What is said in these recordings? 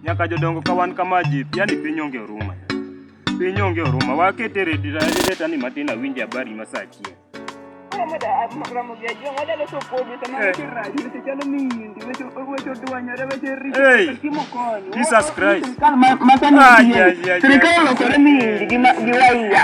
nyaka jodongo ka wan kama ji yani piny onge oruma piny onge oruma wakete redani matin awinje habari masachie Jesus Christ. Ay, ay, ay, ay. Sirikal olokore mindi gi ma- gi waiya.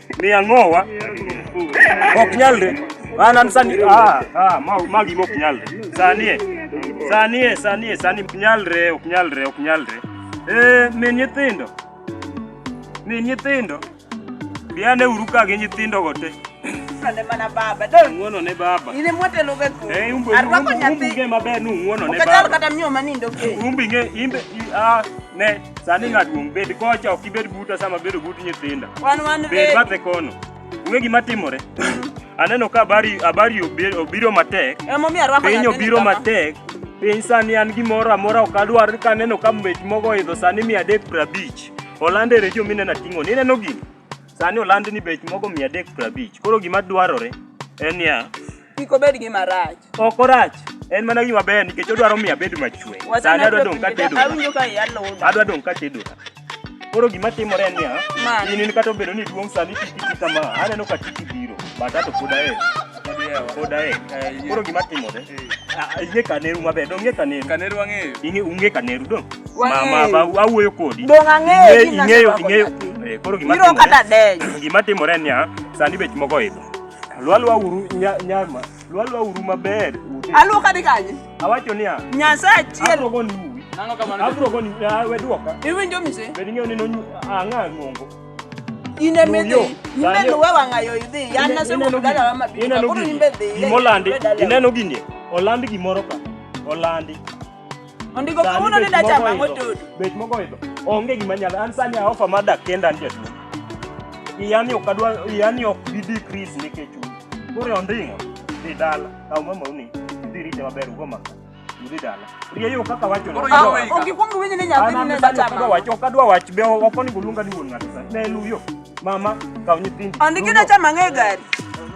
Ni angowa. Ok nyalre. Ana sani ah ah magi mok nyalre. Sanie. Sanie sanie sani ok nyalre ok nyalre ok nyalre. Eh min nyithindo. Min nyithindo. Biane uru ka gi nyithindo go te. Ng'wonone mana baba. Ng'wonone baba. Ile mwete loge ko. Eh umbe. Arwako nyathi. Umbe maber ni ng'wonone baba. Ukachal kata mnyoma nindo ke. Umbe nge imbe ah ne Sani ng'at duong' bed kocha ok ibed buta sama bedo but nyithinda. Wan wan Bed bathe kono. Ung'e gima timore? Aneno ka habari habari obi- obiro matek. Emomiyo arwako Piny nyathini obiro kama. matek. Piny sani an gimoro amora ok adwar ka aneno ka mbech mogo oidho sani mia adek prabich. Oland e redio mineno ating'o ni ineno gini. Sani oland ni bech mogo mia adek prabich. Koro gima dwarore en niya Kik obed gi marach. Ok orach. En mana gima ber nikech odwaro miyo abed machwe. Sani adwa dong' ka tedo. Awinjo ka iya luda. Adwa dong' ka tedo. Koro gima timore en niya, in in kata obedo ni duong' sani titi kama, aneno ka titi biro, but ato pod ae. Pod ae. Koro gima timore. Ing'e kaneru maber, dong' ing'e kaneru. Kaneru ang'eyo. Ing'e ung'e kaneru dong'. Mama ba awuoyo kodi. Dong' ang'eyo. Ing'eyo ing'eyo. Koro gima timore. Gima timore en niya, sani bech mogo idho. Lwalwa uru nyama. Lwalwa uru maber. Aluoka ni kanye? Awacho niya. Nyasaye achiel. Abrogo ni uwi. Nang'o kamano? Abrogo ni ah, we duoka. Iwinjo mise? Bed ing'eyo ni nonyu ang'a ng'ongo. In e midhi. Imbe luwe wang'ayo idhi. Yan nasewuok dala wa mabiro. Ineno gini. Imolandi. Ineno gini. Olandi gimoro ka. Olandi. Ondiko kawuono ni dacha ma motudu. Bet mogo idho. Onge gima nyalo. An sani aofa ma dak kenda nje tu. Iyani ok adwa iyani ok bi decrease nikech u. Kore ondingo. Dhi dala. Kaw mama uni. Dhi rite maber ugo maka. Dhi dala. Rieyo kaka wacho. Onge kuong winyi ni nyathi ni ne dacha ma. Wacho ok adwa wach be ok onego luonga ni wuon ng'ato sani. Ne luyo. Mama kaw nyithindi. Ondiki dacha ma ng'e gari.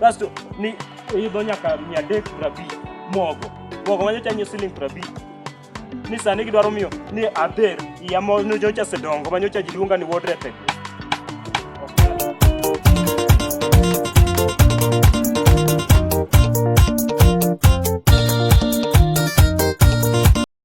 Kasto ni idho nyaka mia adek prabich mogo. Mogo ma nyocha nyiewo siling prabich. Ni sani gidwaro miyo ni adher iya mo nyocha sedongo ma nyocha ji luonga ni ward rep. e gweng'.